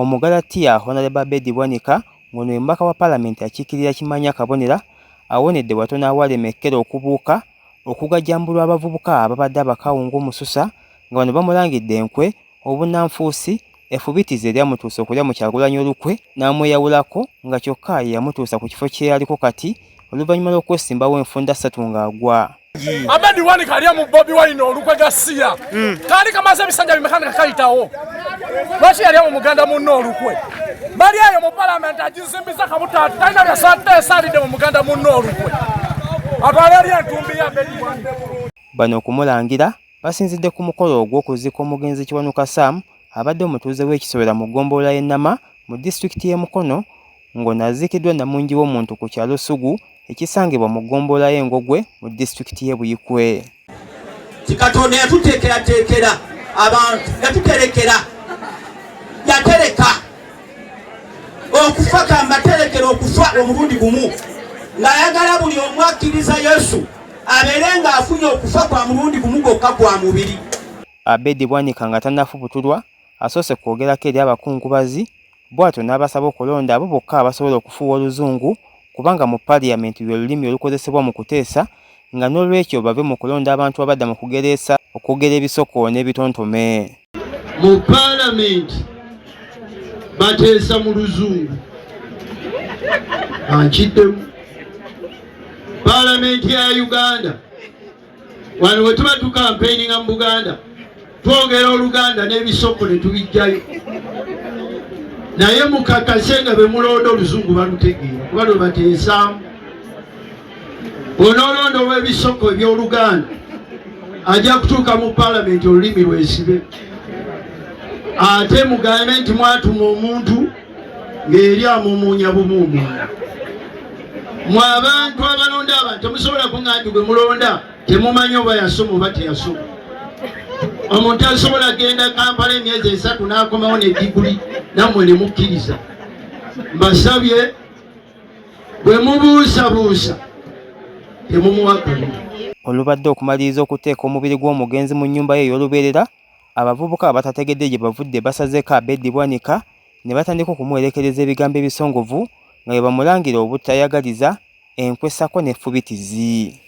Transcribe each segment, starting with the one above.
Omugalatiya Hon Abedi Bwanika ng'ono ye mubaka wa palamenti akiikirira Kimanya Kabonera awonedde watono awalema ekkere okubuuka okugajambulwa abavubuka ababadde abakawungu mu Susa nga bano bamulangidde enkwe, obunnanfuusi, effubitizi eryamutuusa okulya mu Kyagulanyi olukwe n'amweyawulako nga kyokka ye yamutuusa ku kifo kye aliko kati. oluvannyuma lw'okwesimbawo enfunda ssatu ng'agwa amedi wani kalya mu bobi wine olukwe gasiya hmm. kaali kamaze ebisanja bimekana kakayitawo lwaki yalya mu muganda munne olukwe bali eyo mu palamenti agizimbiza kabutaati talina byasata esalidde mu muganda munne olukwe atwala eri entumbi ya amedi wani bano okumulangira basinzidde ku mukolo ogw'okuziika omugenzi kiwanuka sam abadde omutuuze w'ekisobera mu ggombolola y'ennama mu disitulikiti y'e mukono ng'ono aziikiddwa namungi w'omuntu ku kyalo Ssugu ekisangibwa mu ggombolola y'e Ngogwe mu disitulikiti y'e Buikwe. Nti Katonda yatuteekerateekera abantu, yatuterekera, yatereka okufa, kambaterekera okufa omulundi gumu, ng'ayagala buli omu akkiriza Yesu abeere ng'afunye okufa kwa mulundi gumu gwokka gwa mubiri. Abedi Bwanika nga tannafubutulwa asoose kwogerako eri abakungubazi bwatyo n'abasaba okulonda abo bokka abasobola okufuuwa oluzungu kubanga mu parliament lwe lulimi olukozesebwa mu kuteesa nga n'olwekyo bave mu kulonda abantu abadda mu kugereesa okwogera ebisoko n'ebitontome mu parliament bateesa mu luzungu ankiddemu parliament ya uganda wano bwe tuba tukampeininga mu buganda twogera oluganda n'ebisoko ne tubijjayo naye mukakase nga be mulonda oluzungu balutegeera kuba lwe bateesaamu onoolonda olw'ebisoko eby'oluganda ajja kutuuka mu palamenti olulimi lwesibe ate mugambe nti mwatuma omuntu ng'eri amumuunya bumuumuuna mwe abantu abalonda abantu temusobola kuŋa nti gwe mulonda temumanyi oba yasoma oba teyasoma omuntu asobola genda kampala emyezi esatu n'akomawo ne diguli nammwe ne mukkiriza mbasabye bwe mubuusabuusa temumuwa kalulu olubadde okumaliriza okuteeka omubiri gw'omugenzi mu nnyumba ye ey'olubeerera Abavubuka abatategedde gye bavudde basazeeko Abedi Bwanika ne batandika okumuwerekereza ebigambo ebisongovu nga bwe bamulangira obutayagaliza enkwe ssaako ne ffubitizi.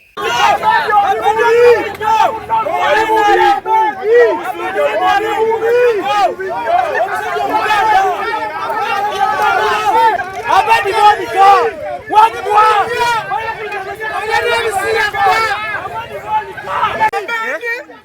Abedi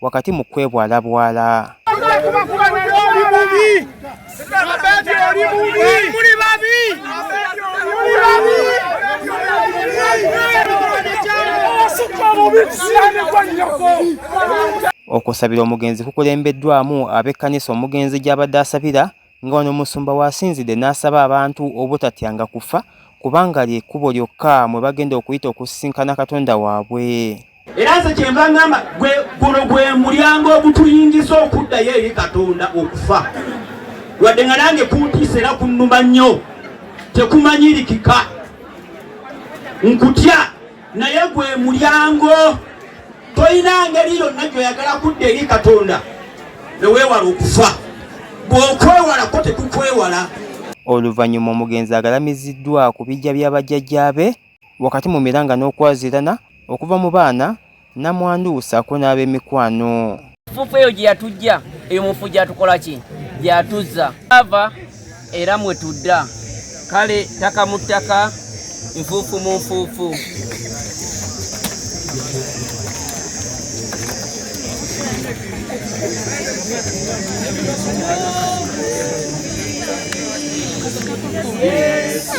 wakati mu kwebwalabwala. Okusabira omugenzi kukulembeddwamu ab'ekkanisa omugenzi gy'abadde asabira nga wano omusumba w'asinzidde n'asaba abantu obutatyanga kufa kubanga lye kkubo lyokka mwe bagenda okuyita okusisinkana Katonda waabwe. Era nze kyenva ngamba guno gwe mulyango ogutuyingiza okuddayo eri Katonda okufa wadde nga nange kuntiisa era kunnuma nnyo tekumanyirikika nkutya naye gwe mulyango tolina ngeri yonna gyoyagala kudda eri katonda neweewala okufa bw'okwewalako tekukwewala oluvannyuma omugenzi agalamiziddwa ku bijja by'abajjajjaabe wakati mu miranga n'okwazirana okuva mu baana namwandu saako n'ab'emikwano Fufu eyo gye yatujja eyo mufu gyatukola ki gyatuzza ava era mwe tudda kale ttaka mu ttaka nfuufu mu nfuufu Yesu,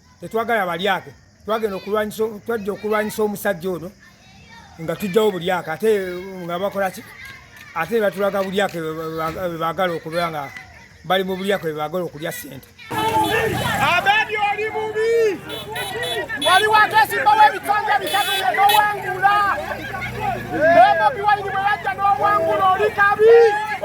tetwagala balyake twagenda okulwanyisa twajja okulwanyisa omusajja ono nga tujjawo bulyake ate nga bakolaki ate batulaga bulyake bebagala okuba nga bali mu bulyake bebagala okulya sente abedi oli mubi wali wakesimba webitanja bitatu nowangula ebobi waini bwewajja nowangula oli kabi